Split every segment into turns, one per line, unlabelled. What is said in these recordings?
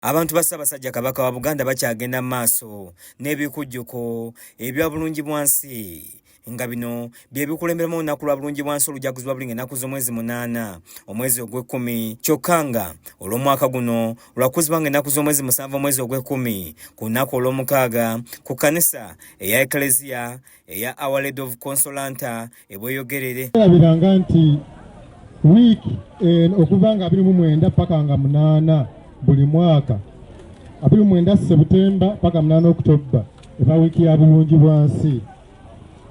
Abantu ba Ssaabasajja Kabaka wa Buganda bakyagenda mu maaso n'ebikujjuko ebya bulungi bwansi nga bino bye bikulemberamu olunaku lwa bulungi bwansi olujaguzi lwa bulinga ennaku z'omwezi munaana omwezi ogw'ekkumi kyokka nga olw'omwaka guno lwakuzibwa nga ennaku z'omwezi musanvu omwezi ogw'ekkumi ku lunaku olw'omukaaga ku kkanisa eya ekleziya eya Our Lady of Consolata e Bweyogerere. Erabiranga nti
wiiki eno okuva nga abiri mu mwenda paka nga munaana buli mwaka abiri mu mwenda Sebutemba paka munaana Okutobba eba wiiki ya bulungi bwansi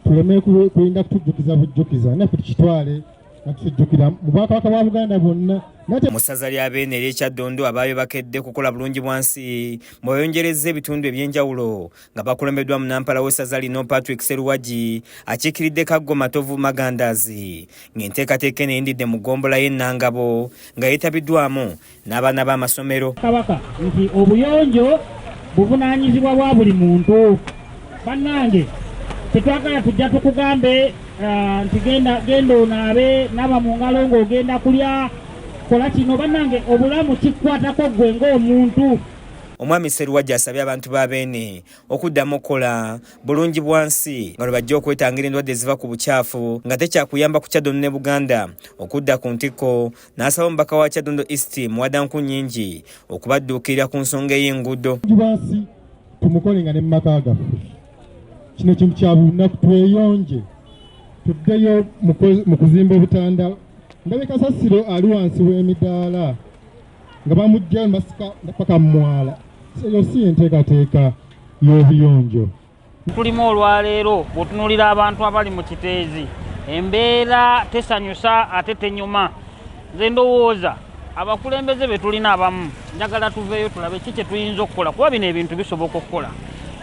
tuleme kulinda kutujjukiza bujjukiza naffe tukitwale nakitujjukira mu bwakabaka bwa Buganda bwonna mu ssaza lya
beene ery'ekyaddondo abaayo bakedde kukola bulungi bwansi mweyongerezza ebitundu eby'enjawulo nga bakulembeddwa munampala w'essaza lino patrick seruwagi akiikiridde kaggo matovu magandaazi ng'enteekateeka eno eyindidde mu ggombola y'ennangabo nga yeetabiddwamu n'abaana b'amasomero kabaka nti
obuyonjo buvunaanyizibwa bwa buli muntu bannange tetwagala tujja tukugambe uh, nti genda onaabe naba mu ngalo ng'ogenda kulya kola kino bannange obulamu kikwatako ggwe ng'omuntu Omwami
Sseruwagi asabye abantu ba Beene okuddamu okukola bulungi bwansi nga lwe bajja okwetangira endwadde eziva ku bukyafu nga tekyakuyamba ku Kyadondo ne Buganda okudda ku ntikko n'asaba omubaka wa Kyadondo East Muwadanku Nnyingi okubadduukirira ku nsonga ey'enguudo bwansi
tumukole nga ne mu maka gaffe kino kintu kya bulunaku tweyonje tuddeyo mu kuzimba obutanda ndabika sasiro ali wansi w'emidaala nga bamujjayo basika paka mumwala eyo si enteekateeka y'obuyonjo tulimu
olwaleero bwotunulira abantu abali mu kiteezi embeera tesanyusa ate tenyuma nze ndowooza abakulembeze betulina abamu njagala tuveeyo tulabe ki kyetuyinza okukola kuba bino ebintu bisoboka okukola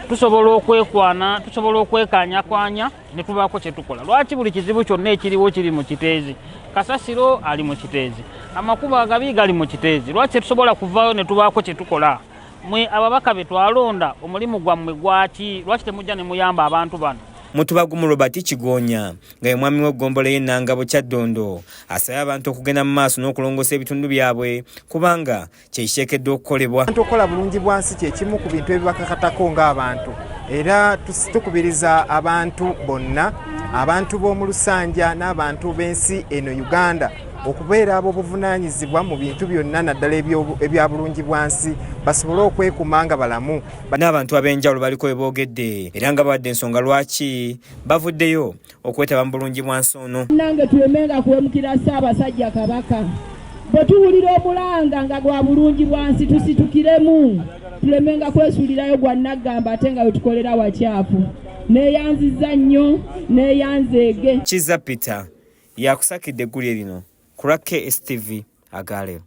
tusobola okwekwana tusobola okwekanya kwanya ne tubaako kye tukola lwaki buli kizibu kyonna ekiriwo kiri mu kiteezi kasasiro ali mu kiteezi amakubo agabi gali mu kiteezi lwaki tetusobola kuvaayo ne tubaako kye tukola mwe ababaka be twalonda omulimu gwammwe gwaki lwaki temujja ne muyamba abantu bano mutubagumu robert
kigonya nga ye mwami w'eggombola y'ennangabo kyaddondo asabye abantu okugenda mu maaso n'okulongoosa ebitundu byabwe kubanga kyekiteekeddwa okukolebwa abantu okukola bulungi bwansi
kyekimu ku bintu ebibakakatako ng'abantu era tukubiriza abantu bonna abantu b'omu lusanja n'abantu b'ensi eno uganda okubeera ab'obuvunaanyizibwa mu bintu byonna naddala ebya bulungi bwansi basobole okwekuuma nga balamu bano abantu ab'enjawulo
baliko we boogedde era nga bawadde ensonga lwaki bavuddeyo okwetaba mu bulungi bwansi ono. Nange tulemenga
kuwemukira Ssaabasajja Kabaka. Bwe tuwulira omulanga nga gwa bulungi bwansi tusitukiremu tulemenga kwesuulirayo gwa nnaggamba ate nga wetukolera wakyafu. Neeyanziza nnyo neeyanzeege.
Kizza Peter yakusakidde eggulire
lino
ku lwa KSTV agaaleero.